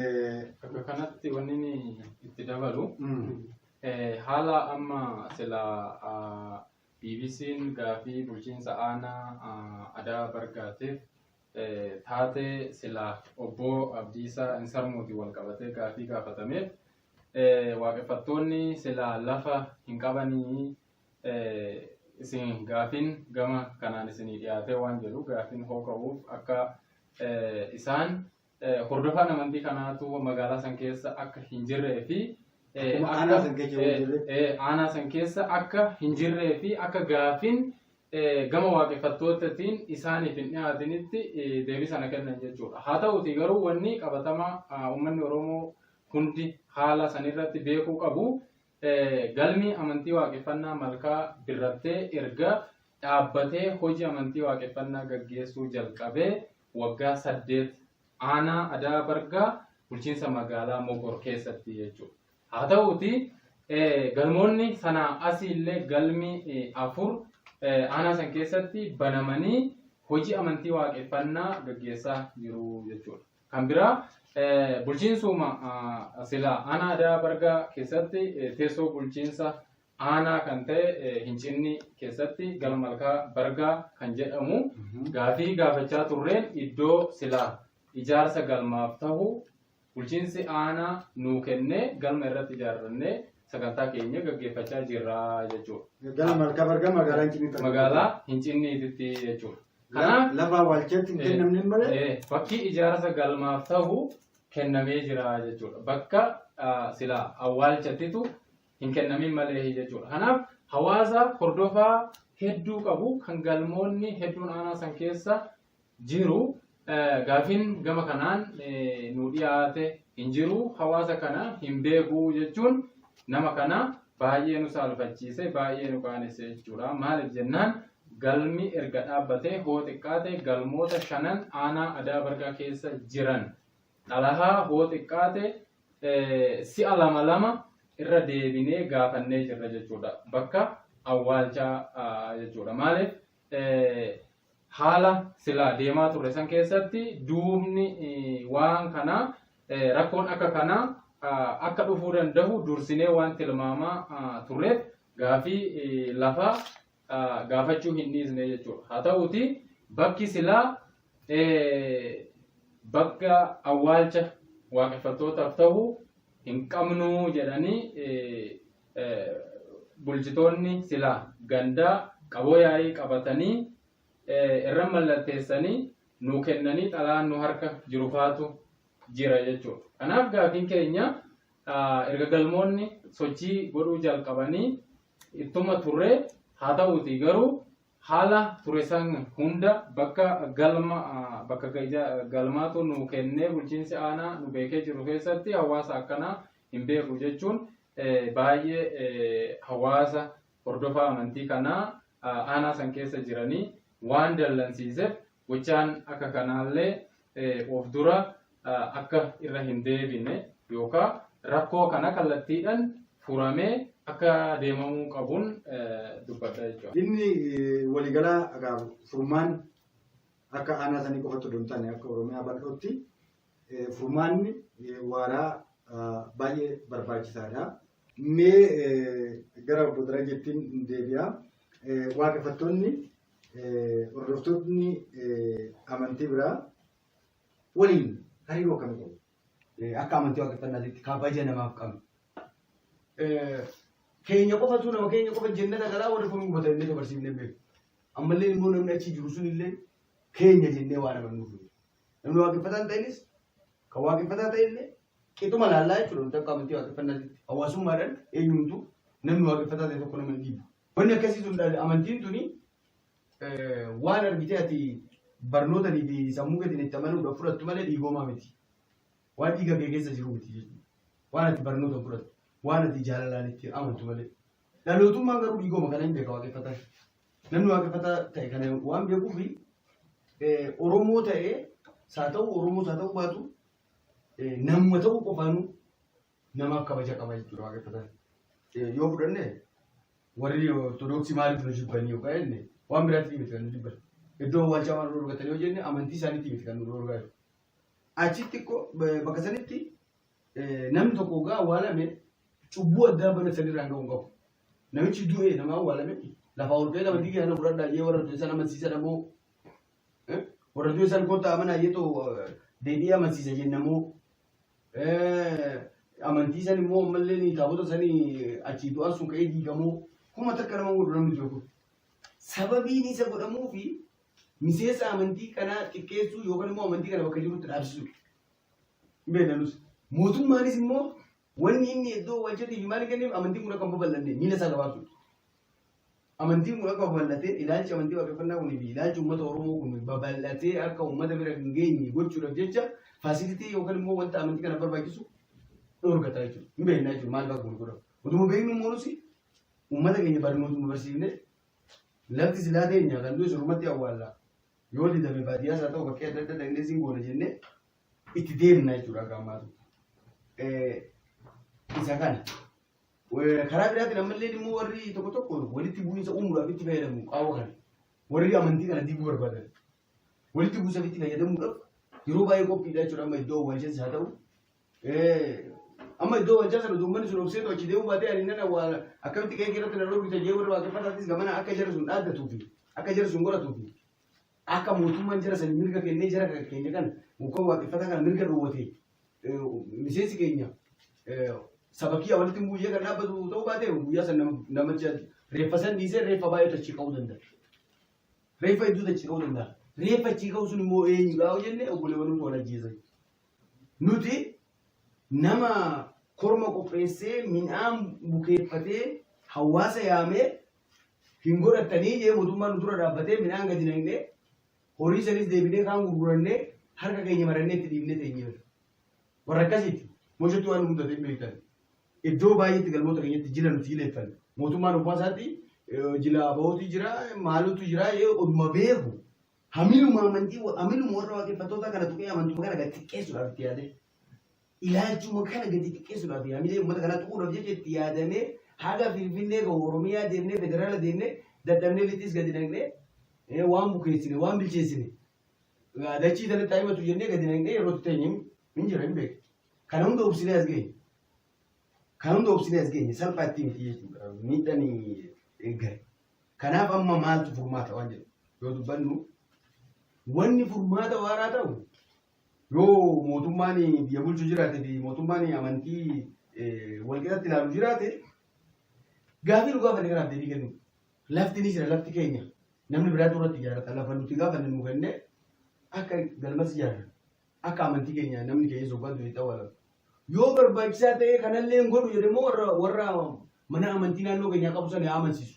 Bakka kanatti wanni inni itti dabalu haala amma sila BBC'n gaafii bulchiinsa aanaa adaa bargaatiif taatee sila obbo Abdiisaa Insarmuutiin wal qabatee gaafii gaafatameef waaqeffattoonni sila lafa hin qabanii isin gaafiin gama kanaan isinii dhiyaatee waan jedhu gaafiin hoo ka'uuf akka isaan hordofaan amantii kanaatu magaalaa san keessa akka hin jirree fi aanaa san keessa hin jirre. aanaa san keessa akka hin jirree fi akka gaafin gama waaqeffattootatiin isaaniif hin dhiyaatinitti deebii sana kennan jechuudha. Haa ta'uti garuu wanni qabatamaa uummanni Oromoo hundi haala sanirratti beekuu qabu galmi amantii waaqeffannaa malkaa birrattee erga dhaabbatee hojii amantii waaqeffannaa gaggeessuu jalqabee waggaa 8 aanaa Adaa Bargaa bulchiinsa magaalaa Mogor keessatti jechuudha. Haa ta'uuti galmoonni sanaa asii illee galmi afur aanaa san keessatti banamanii hojii amantii waaqeffannaa gaggeessaa jiru jechuudha. Kan biraa bulchiinsuma silaa aanaa Adaa Bargaa keessatti teessoo bulchiinsa aanaa kan ta'e eh, Hincinni keessatti gara malkaa Bargaa kan jedhamu gaafii gaafachaa turreen iddoo silaa ijaarsa galmaaf ta'u bulchiinsi aanaa nuu kennee galma irratti ijaarrannee sagantaa keenya gaggeeffachaa jirra jechuudha. Gara malkaa bargaa magaalaa hin cinni Magaalaa Hincinniititti jechuudha. Kanaaf Lafa awwaalchaatti hin kennamne malee Eh, bakki ijaarsa galmaaf ta'u kennamee jira jechuudha. Bakka ah, silaa awwaalchattitu hin kennamin malee jechuudha. Kanaaf hawaasa hordofaa hedduu qabu kan galmoonni hedduun aanaa san keessa jiru gaafin gama kanaan nu dhiyaate hin jiru hawaasa kana hin beeku jechuun nama kana baay'ee nu saalfachiise baay'ee nu qaanesse jechuudha. Maaliif jennaan galmi erga dhaabbatee hoo xiqqaate galmoota shanan aanaa adaa bargaa keessa jiran Xalahaa hoo xiqqaate si'a lama lama irra deebinee gaafannee jirra jechuudha. Bakka awwaalchaa jechuudha. Maaliif haala silaa deemaa turre san keessatti duubni waan kanaa rakkoon akka kanaa akka dhufuu danda'u dursinee waan tilmaamaa turreef gaafii lafaa gaafachuu hin dhiisne jechuudha. Haa ta'uuti bakki silaa bakka awwaalcha waaqeffattootaaf ta'u hin qabnu jedhanii bulchitoonni silaa gandaa qaboo yaa'ii qabatanii irra mallatteessanii nuu kennanii xalaan nu harka jiru faatu jira jechuudha. Kanaaf gaafiin keenya erga galmoonni sochii godhuu jalqabanii ittuma turre haa ta'uuti garuu haala ture san hunda bakka galma bakka galmaatu nu kennee bulchiinsi aanaa nu beekee jiru keessatti hawaasa akkanaa hin beeku jechuun baay'ee hawaasa hordofaa amantii kanaa aanaa san keessa jiranii waan dallansiiseef Gochaan akka kanaallee of dura akka irra hin deebine yookaan rakkoo kana kallattiidhaan furamee akka deemamuu qabuun dubbadha jechuudha. Dhimmi waliigalaa egaa furmaan akka aanaa sanii qofatti odoo hin taane akka Oromiyaa bal'ootti furmaanni waaraa baay'ee barbaachisaadha. Mee gara obbo Darajettiin deebi'a. Waaqeffattoonni hordoftoonni amantii biraa waliin hariiroo akkamii qabu? Akka amantii waaqeffannaatitti kabaja namaaf qabna. Keenya qofatu nama keenya qofa jennata galaa warri kun hubatan illee dabarsiifnee beeku. Ammallee immoo namni achi jiru sun illee keenya jennee waan amannuuf. Namni waaqeffataa hin ta'inis kan waaqeffataa ta'e illee Qixuma laallaa jechuudha nuti akka amantii waaqeffannaatitti. Hawaasummaadhaan eenyumtuu namni waaqeffataa ta'e tokko nama hin dhiibu. Wanni akkasii sun dha- amantiin tuni eh, waan argitee ati barnootanii fi sammuu keetiin itti amanuudhaaf fudhattu malee dhiigoomaa miti. Waan dhiiga kee keessa jiru miti jechuudha. Waan ati barnootaan fudhattu, waan ati jaalalaan itti amantu malee. Dhalootummaan garuu dhiigooma kana hin beeka waaqeffataa. Namni waaqeffataa ta'e kana waan beekuuf eh, Oromoo ta'ee saa ta'u Oromoo saa ta'u baatu Namuma ta'uu qofaanuu namaaf kabaja qaba jechuudha waaqeffa sana. Yoo fudhanne warri ortodoksii maaliif nu jibbanii yoo qabanne waan biraatiif miti kan nu jibban. Iddoo awwaalchaa waan dhorgatanii yoo jenne amantii isaaniitii miti kan nu dhorgaa jiru. Achitti ko- ba- bakka sanitti eh, namni tokko ogaa awwaalame cubbuu addaa bana sanirraan ga'uu hin qabu. Namichi du'e nama awwaalame lafaa ol ka'ee nama diigaa na fudhadhaa jee warra du'e sana amansiisa dhaboo Warraduu isaan kottaa amanaa jettu deebi'ee amansiisa jennamoo amantii san immoo ammallee ni taabota sanii achii du'aan sun ka'ee diigamoo kuma takka nama godhu namni jiru kun. Sababiin isa godhamuu fi miseensa amantii kanaa xiqqeessuu yookaan immoo amantii kana bakka jirutti dhaabsisuu. Beekanus. Mootummaanis immoo Wanni inni iddoo wajjirri himaa hin kenneef amantiin kun akka hin babal'anne miila isaa gabaabsuudha. Amantiin kun akka babal'atee ilaalchi amantii waaqeffannaa kunii fi ilaalchi uummata Oromoo kun babal'atee akka uummata bira hin geenye gochuudhaaf jecha faasilitii yookaan immoo wanta amantii kana barbaachisu dhorgataa jechuudha. Hin beeknaa jechuudha maal ba'a kun godhamu. Utuma beeknu immoo nuti uummata keenya barnootuma barsiifne lafti silaa teenya kan du'e surmatti awwaallaa. Yoo didame baadiyyaas haa ta'u bakkee adda addaa dhaqnee siin goona jennee itti deemna jechuudha akka ammaatu. Isa kana. Karaa biraatiin ammallee immoo warri tokko tokko walitti bu'iinsa uumuudhaaf itti fayyadamu qaawwa kana. Warri amantii kana diiguu barbaadan walitti bu'iinsaaf itti fayyadamuudhaaf yeroo baay'ee qophiidha jechuudha amma iddoo waalchaas haa ta'u. Amma iddoo waalchaa sana uummanni sun obseetu achi deemuu baatee ani nana waa akkamitti qe'ee irratti narroo bitee jee warri waaqeffataafis gamana akka jarri sun dhaaddatuufi akka jarri sun godhatuufi Akka mootummaan jara sani mirga kennee jara kan keenya kan muka waaqeffataa kana mirga dhoowwate eh, miseensi keenya eh, saba kiyya walitti muuyya kan dhaabbatu ta'uu baate guyyaa san nama- namicha reeffa san dhiisee reeffa baay'ee tachii ka'uu danda'a. Reeffa hedduu tachii ka'uu danda'a. Reeffa achii ka'uu sun immoo eenyu gaa'u jennee obboleewwan nuti wal ajjeesan. Nuti nama korma qopheessee midhaan bukeeffatee hawaasa yaamee hin godhattanii jee mootummaan nu dura dhaabbatee midhaan gadi naqnee horii sanis deebinee kaan gurgurannee harka keenya marannee itti dhiibnee teenyeera. Warra akkasiiti mooshetti waan nu mudate hin beektan. Iddoo baay'eetti galmoota keenyatti jila nuti jileeffan. Mootummaan ofaa isaatti eh, jila abootii jira maalutu jira yoo oduma beeku hamiluma amantii hamiluma warra waaqeffattoota kana tuqee amantuma kana gad xiqqeessuudhaaf itti yaadee. ilaalchuma kana gadi xiqqeessuudhaaf yaamilee uummata kanaa tuquudhaaf jecha itti yaadamee haga Finfinnee gahu Oromiyaa deemnee federaala deemnee dadhabnee lixis gadi naqnee eh, waan bukeessine waan bilcheessine eh, dachii sanatti haimatu jennee gadi naqnee yeroo itti teenye hin jira hin beeku. Kana hunda obsinee as geenye. Kana hunda obsinee as geenye salphaa ittiin miti jechuudha miidhaan eeggare. Kanaaf amma maaltu furmaata waan jedhu yoo dubbannu wanni furmaata waaraa ta'u Yoo mootummaan biyya bulchu jiraate fi mootummaan amantii walqixatti ilaalu jiraate gaafii nu gaafanne kanaaf deebii kennu. Lafti ni jira lafti keenya namni biraatu irratti ijaarrata lafa nuti gaafanne nu kenne akka galmas ijaarra akka amantii keenya namni keenya sobbaa durii ta'uu ala. Yoo barbaachisaa ta'e kanallee hin godhu jedhee immoo warra warra mana amantii naannoo keenyaa qabu sana yaa amansiisu.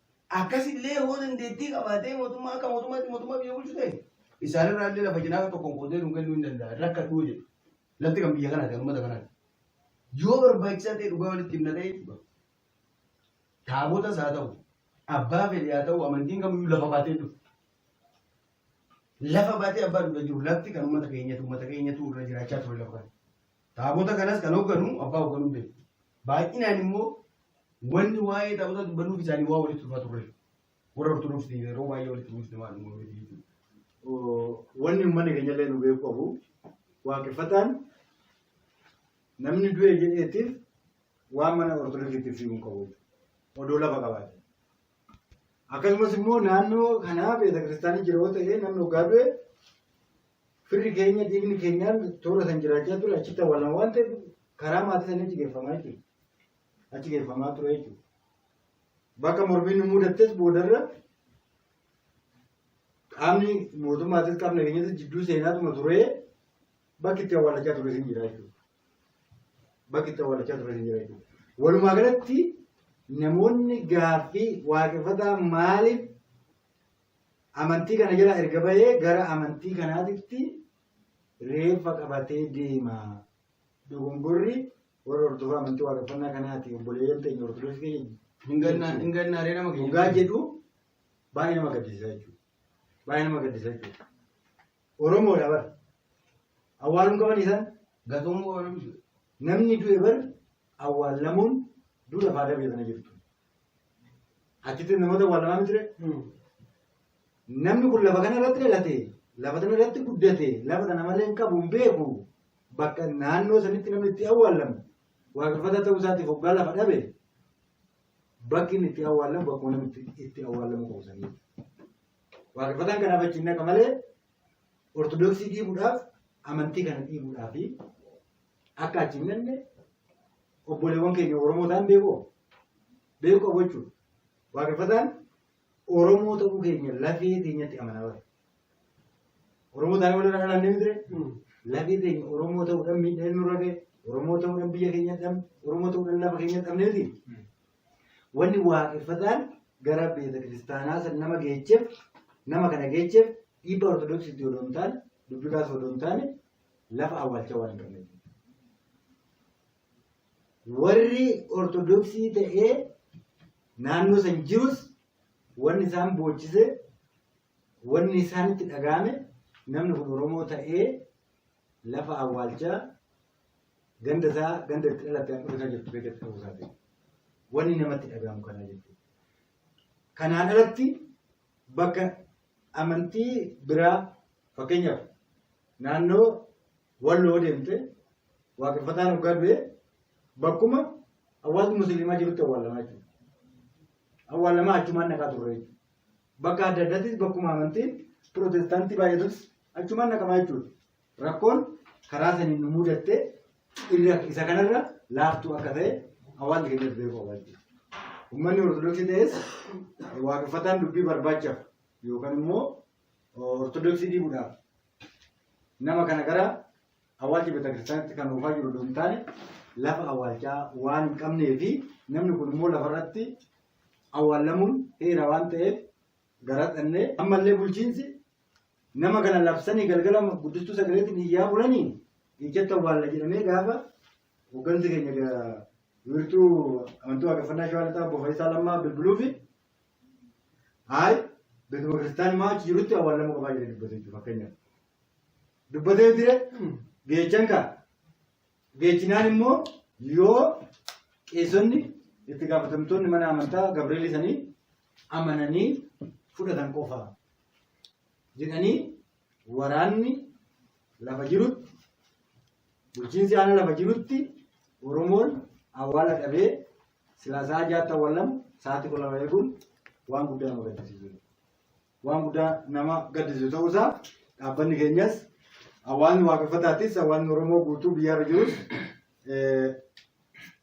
Akkas illee hoo dandeettii qabaatee mootummaa akka mootummaatti mootummaa biyya bulchu ta'e isaan irraa illee lafa cinaa tokkoon qoodee nu kennuu hin danda'a rakkadhuu jedhu. Lafti kan biyya kanaati kan uummata kanaati. Yoo barbaachisaa ta'e dhugaa walitti himna ta'e jechuudha. Taabotas haa ta'u abbaa fedhe haa ta'u amantiin kamiyyuu lafa baatee dhufu. Lafa baatee abbaa dhuga jiru lafti kan uummata keenyatu uummata keenyatu irra jiraachaa ture lafa kana. Taabota kanas kan hoogganu abbaa hoogganuun beeku. Baay'inaan immoo wanni waa'ee taabota dubbannuuf isaanii waa walitti dhufaa turre. Warra Ortodoksii yeroo baay'ee walitti dhufte waan uumamee jechuudha. Wanni uummanni keenya illee nu beeku qabu waaqeffataan namni du'e jedheetiif waan mana Ortodoksiitiif fiiguu hin qabu. Odoo lafa qabaate. Akkasumas immoo naannoo kanaa beetakiristaanii jira yoo ta'e namni hoggaa du'e firri keenya dhiigni keenyaan toora san jiraachaa ture achitti awwaalama waan ta'eef karaa maatii sanii achi geeffamaa jechuudha. Achi geeffamaa ture jechuudha. Bakka mormiin nu mudattes boodarra qaamni mootummaatis qaamni nageenyaatis jidduu seenaatuma turee bakki itti awwaalachaa ture sin jira jechuudha. bakki itti awwaalachaa turan hin jira jechuudha. Walumaa galatti namoonni gaaffii waaqeffataa maaliif amantii kana jala erga bahee gara amantii kanaatitti reeffa qabatee deema. Dogongorri warra hordofaa amantii waaqeffannaa kanaati obboleeyyan teenya ortodoksii keenya Hin gannaa- hin gannaaree nama keenya. dhugaa jedhu baay'ee nama gaddisiisa jechuudha. Baay'ee nama gaddisiisa jechuudha. Oromoodha bar. Awwaaluu qaban isaan. Gatumuu ooluu jiru. Namni du'e bar awwaallamuun duudha faadaa biyya kana jirtu. Achitti namoota awwaallamaa miti ree? Namni kun lafa kana irratti dhalate, lafa kana irratti guddate, lafa kana malee hin qabu hin beeku. Bakka naannoo sanitti namni itti awwaallamu waaqeffataa ta'uu isaatiif hoggaa lafa dhabe bakki inni itti awwaallamu bakkuma namni itti- itti awwaallamu qabu sanii. Waaqeffataan kanaaf achi hin dhaqa malee Ortodoksii dhiibuudhaaf amantii kana dhiibuudhaa fi akka achi hin dhaqne obboleewwan keenya Oromoo ta'an beekoo beeku qabu jechuudha. Waaqeffataan Oromoo ta'uu keenya lafee keenyatti amanaa bara. Oromoo ta'an walirra dhalaan ni miti lafee keenya Oromoo ta'uudhaan miidhaan nurra ga'e Oromoo ta'uudhaan biyya keenya dhabne Oromoo ta'uudhaan lafa keenya dhabne miti. Wanni waaqeffataan gara beeta kiristaanaa san nama geecheef nama kana geecheef dhiibba ortodoksiitti odoo hin taane dubbii kaasa odoo hin taane lafa awwaalchaa waan hin qabneef. Warri ortodoksii ta'ee naannoo san jirus wanni isaan boochise Wanni isaanitti dhaga'ame namni kun Oromoo ta'ee lafa awwaalchaa ganda isaa ganda itti dhalatte haadhuma isaa jirtu keessatti ta'uu isaa ta'e. Wanni namatti dhaga'amu kanaa jechuudha. Kanaan alatti bakka amantii biraa fakkeenyaaf naannoo walloo deemte waaqeffataan hoggaa du'e bakkuma hawaasni musliimaa jirutti awwaalamaa jechuudha. Awwaalamaa achumaan naqaa turre jechuudha. Bakka adda addaattis bakkuma amantiin pirootestaantii baay'atus achumaan naqamaa jechuudha. Rakkoon karaa saniin nu mudattee inni akka- isa kanarra laaftuu akka ta'e hawaasni keenya beekuu qabaa jechuudha. Uummanni Ortodoksii ta'es waaqeffataan dubbii barbaachaaf yookaan immoo Ortodoksii diiguudhaaf nama kana gara Awwaalchi beetakiristaanitti kan oofaa jiru odoo hin taane lafa awwaalchaa waan hin qabnee fi namni kun immoo lafarratti awwaallamuun heera waan ta'eef gara dhannee ammallee bulchiinsi nama kana labsanii galgala guddistuu sagaleetti biyyaa bulanii ijjatti awwaalla jedhamee gaafa hooggansi keenya wiirtuu amantii waaqeffannaa shawaa lixaa obbo Fayisaa Lammaa bilbiluu fi haay beekuma kiristaanii maa achi jirutti awwaallamuu qabaa jedhee dubbate fakkeenyaaf. dubbatee jire geechan kaa geechinaan immoo yoo qeessonni itti gaafatamtoonni mana amantaa gabreelii sanii amananii fudhatan qofa jedhanii waraanni lafa jirutti bulchiinsi aanaa lafa jirutti oromoon awwaala dhabee silaa sa'a jaatti awwaalamu sa'aatti qola eeguun waan guddaa nu gaddisiisu. waan guddaa nama gaddisiisu ta'uu isaa dhaabbanni keenyas hawaasni waaqeffataatis hawaasni Oromoo guutuu biyyaarra jirus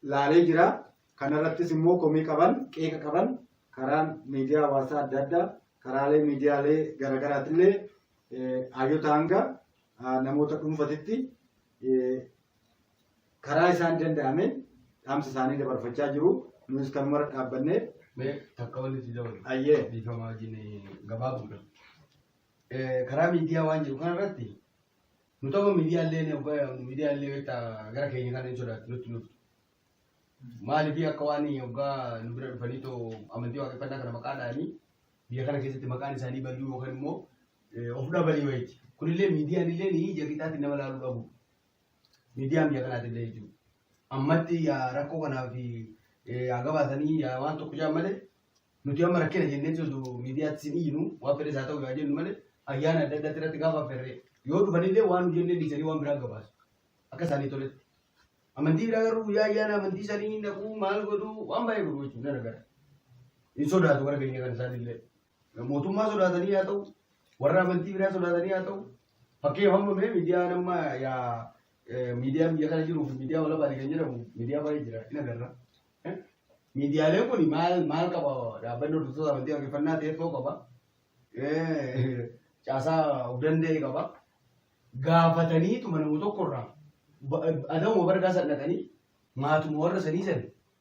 laalee jira. Kanarrattis immoo komii qaban qeeqa qaban karaan miidiyaa hawaasaa adda addaa karaalee miidiyaalee garaagaraatillee hayyota hanga namoota dhuunfatitti karaa isaan danda'ameen dhaamsa isaanii dabarfachaa jiru. Nuyis kanumara dhaabbannee Mee takka wanti si dabalu. ayyee Dhiifama wajjin gabaabuudha. Karaa miidiyaa waan jiru kanarratti nu tokko miidiyaallee miidiyaallee beektaa gara keenya kana hin sodaatu nutti nuuf. Maaliif akka waan yoggaa nu bira dhufanii too amantii waaqeffannaa kana maqaa dhaanii biyya kana keessatti maqaan isaanii baduu yookaan immoo of dhabalii wayiiti. Kunillee miidiyaan illee ni ija qixaatti nama laaluu dhabu. miidiyaan biyya kanaati illee jechuudha. Ammatti rakkoo kanaa fi yaa gabaasanii yaa waan tokko jaan malee nuti amma rakkina jennee jiru miidiyaatti sin iyyinu waan fedhes haa ta'u yaa jennu malee ayyaana adda addaatti irratti gaafa ferree yoo dhufanillee waan nu jennee dhiisanii waan biraa gabaasu akka isaanii toletti. Amantii biraa garuu guyyaa ayyaana amantii isaanii naquu maal godhuu waan baay'ee godhu jechuudha nana gara. Hin sodaatu gara keenya kan isaanillee. Mootummaa sodaatanii haa ta'u, warra amantii biraa sodaatanii haa ta'u, fakkeenya hamma mee miidiyaa nama yaa miidiyaa biyya kana jiruu fi miidiyaa walabaati kan jedhamu miidiyaa baay'ee jira hin agarra. Miidiyaaleen kun maal maal qaba dhaabbanni hordoftoota amantii waaqeffannaa teessoo qaba. Caasaa of danda'e qaba. Gaafatanii tuma nama tokkorraa adamuma bargaa san dhaqanii maatuma warra sanii san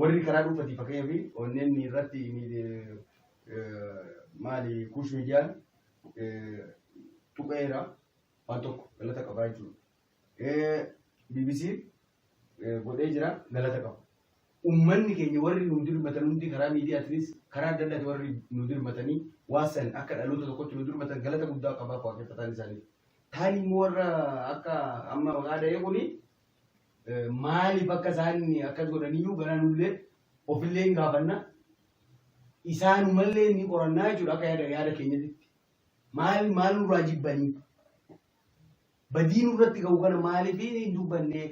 Warri karaa dhuunfati fakkeenyaaf onneen irratti maali kuush miidiyaan tuqeera waan tokko galata qabaa jechuudha. BBC godhee jira galata qaba. Uummanni keenya warri nu dirmatan hundi karaa miidiyaatiinis karaa adda addaati warri nu dirmatanii waan san akka dhaloota tokkotti nu dirmatan galata guddaa qabaa waaqeffataan isaanii. Taani immoo warra akka amma maqaa dha'ee kuni Maaliif akka isaan akkas godhaniyyuu garaa nullee ofillee hin gaafanna. Isaanumallee ni qorannaa jechuudha akka yaada yaada keenyatti. Maal maal nurraa jibbanii? Badii nurratti ga'u kana maaliif hin dubbanne?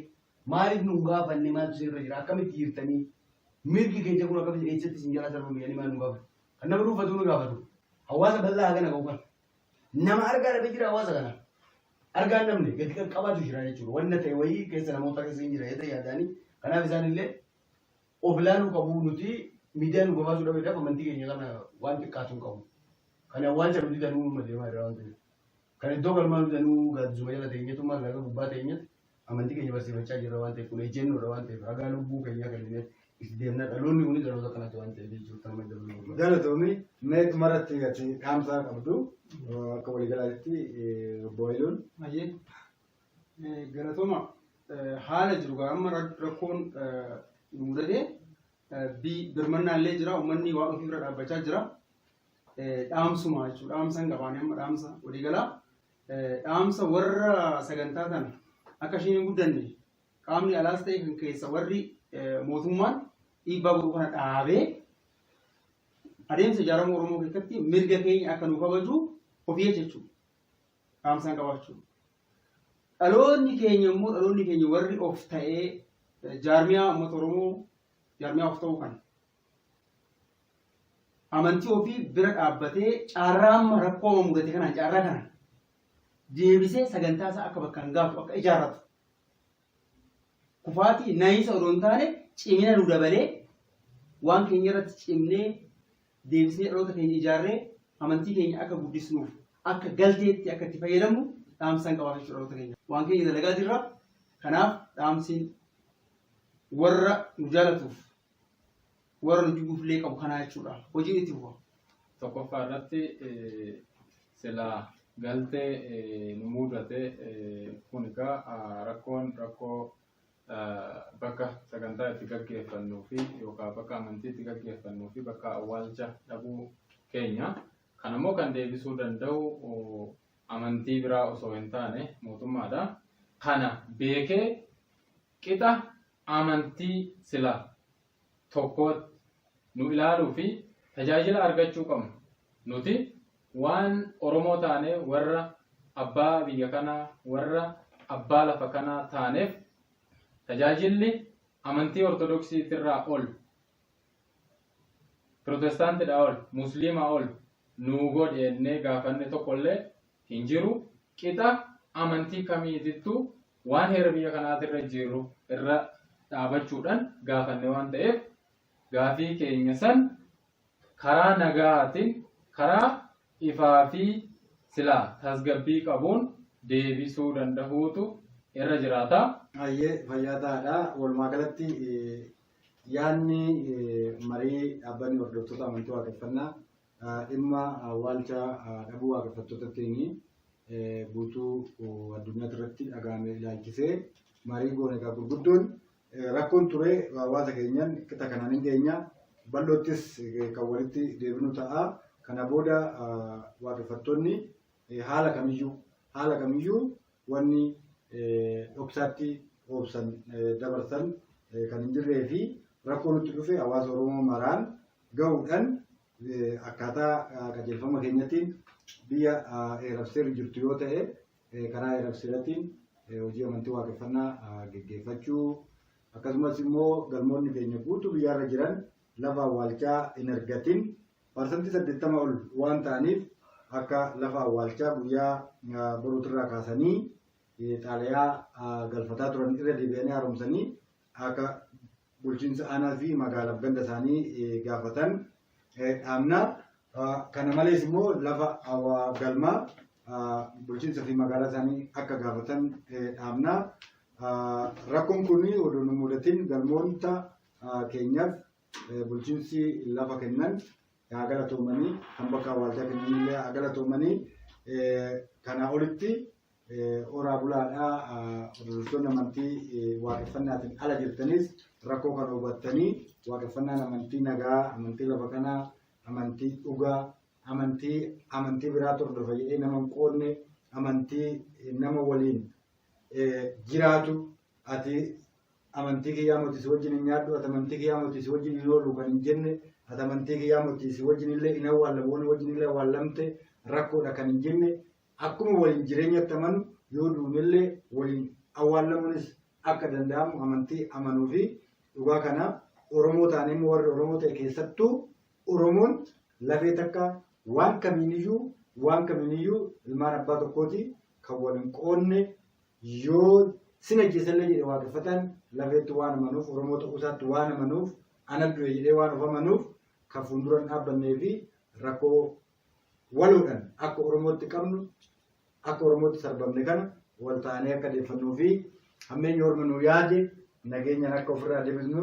Maaliif nu hin gaafanne? Maaltu isinirra jira? Akkamitti jirtanii? Mirgi keenya kun akkamitti eessatti isin jalaa sarbame jedhanii maal nu gaafatu? Kan nama dhuunfatu nu gaafatu. Hawaasa bal'aa hagana ga'u kana. Nama argaa dhabe jira hawaasa kana. Argaan namni gadi qaqqabaatu jira jechuudha. Wanna ta'e wayii keessa namoota keessa hin jira jedhee yaadaanii. Kanaaf isaan illee of ilaaluu qabu nuti miidiyaan nu gabaasuu dhabeedhaaf amantii keenya kana waan xiqqaatu hin qabu. Kan awwaalcha nuti danuu uummata deemaa jira waan ta'eef. Kan iddoo galmaa nuti danuu gaaddisuma jala teenyatu maallaqa gubbaa teenyatti Amantii keenya barsiifachaa jirra waan ta'eef kun ejjennoodha waan ta'eef ragaa lubbuu keenyaa kenninee itti deemna dhaloonni kunis dhaloota kanatti waan ta'eef jechuudha amma dabaluu. Galatoomi mee dhumarratti ati dhaamsaa qabdu akka waliigalaatti obbo Hayiluun. Hayyee galatooma haala jiru gaa amma rakkoon nu mudatee birmannaallee jira uummanni waan ofii bira dhaabbachaa jira. dhaamsuma jechuudha. Dhaamsa hin qabaane amma dhaamsa walii galaa. Dhaamsa warra sagantaa kana akka isheen hin guddanne qaamni alaas ta'e kan keessa warri mootummaan dhiibbaa godhu kana dhaabee adeemsa ijaarama Oromoo keessatti mirga keenya akka nu kabaju ofii jechuudha. Dhaamsa hin qabaachuu. Dhaloonni keenya immoo dhaloonni keenya warri of ta'ee jaarmiyaa uummata Oromoo jaarmiyaa of ta'uu kana amantii ofii bira dhaabbatee carraa amma rakkoo amma mudate kanaan carraa kana deebisee sagantaa isaa akka bakkaan gaatu akka ijaarratu kufaatii naayinsa odoo hin taane cimina nu dabalee waan keenya irratti cimnee deebisnee dhaloota keenya ijaarree amantii keenya akka guddisnuuf akka galteetti akka itti fayyadamnu dhaamsan qabaa jechuudha dhaloota keenya waan keenya dalagaa jirra kanaaf dhaamsiin warra nu jaalatuuf warra nu jibbuuf illee qabu kanaa jechuudha. Hojiin itti fufa. Tokkoffaa irratti eh, silaa galtee eh, nu mudate eh, kun egaa ah, rakkoon rakkoo ah, bakka sagantaa itti gaggeeffannuu fi yookaan bakka amantii itti gaggeeffannuu fi bakka awwaalcha dhabuu keenya. Kan ammoo kan deebisuu danda'u oh, amantii biraa osoo hin taane mootummaadha. Kana beekee Qixa amantii sila tokkootti nu ilaaluu fi tajaajila argachuu qabnu. Nuti waan Oromoo taanee warra abbaa biyya kanaa, warra abbaa lafa kanaa taaneef tajaajilli amantii Ortodoksiitirraa ol, Pirotestaantidhaa ol, Musliimaa ol nuu godhi jennee gaafanne tokkollee hin jiru. Qixa amantii kamiitittuu waan heera biyya kanaatirra jiru irra dhaabachuudhaan gaafanne waan ta'eef gaafii keenya san karaa nagaatiin karaa ifaa fi silaa tasgabbii qabuun deebisuu dandahuutu irra jiraata. Hayyee fayyaa ta'aadha. Walumaa galatti yaadni marii dhaabbanni hordoftoota amantii waaqeffannaa Dhimma awwaalcha dhabuu waaqeffattootattiin guutuu addunyaa irratti dhaga'ame ilaalchisee marii goone egaa gurguddoon rakkoon ture hawaasa keenyaan qixa kanaan hin geenye bal'oottis kan walitti deebinu ta'a. Kana booda waaqeffattoonni haala kamiyyuu haala kamiyyuu wanni dhoksaatti oobsan dabarsan kan hin jirree fi rakkoo nutti dhufe hawaasa Oromoo maraan gahuudhaan akkaataa qajeelfama keenyatiin biyya eerabseerri jirtu yoo ta'e karaa eerabseeratiin hojii amantii waaqeffannaa geggeeffachuu akkasumas immoo galmoonni keenya guutuu biyyaarra jiran lafa awwaalchaa hin argatin parsantii saddeettama ol waan ta'aniif akka lafa awwaalchaa guyyaa boruutirraa kaasanii xaalayaa galfataa turan irra deebi'anii haaromsanii akka bulchiinsa aanaa fi magaalaaf ganda isaanii gaafatan dhaabna. Kana malees immoo lafa galmaa bulchiinsa fi magaalaa isaanii akka gaafatan dhaabna. Rakkoon kun odoo nu mudatiin galmoota keenyaaf bulchiinsi lafa kennan haa galatoomanii kan bakka awwaalchaa kennanillee haa galatoomanii kanaa olitti Horaa bulaadhaa hordoftoonni amantii waaqeffannaatiin ala jirtanis rakkoo kana hubattanii waaqeffannaan amantii nagaa, amantii lafa kanaa, amantii dhugaa, amantii amantii biraatti hordofa jedhee nama hin qoodne, amantii nama waliin jiraatu ati amantii kiyyaa mootii si wajjin hin nyaadhu, ati amantii kiyyaa mootii si wajjin hin oolu kan hin jenne, ati amantii kiyyaa mootii si wajjin illee hin awwaallamu, wajjin illee awwaallamte rakkoodha kan hin jenne. Akkuma waliin jireenyatti amanu yoo duunellee waliin awwaallamuunis akka danda'amu amantii amanuu fi dhugaa kana Oromoo taanee immoo warri Oromoo ta'e keessattuu Oromoon lafee takka waan kamiiniyyuu waan kamiiniyyuu ilmaan abbaa tokkooti kan wal hin qoodne yoo sin ajjeesallee jedhe waaqeffataan lafeetti waan amanuuf Oromoo ta'uu isaatti waan amanuuf ana du'e jedhee waan of amanuuf kan fuuldura hin dhaabbannee fi rakkoo waloodhan akka Oromootti qabnu akka Oromootti sarbamne kana wal taanee akka deeffannuu fi hammeenyi Orma nu yaade nageenyaan akka ofirraa debisnu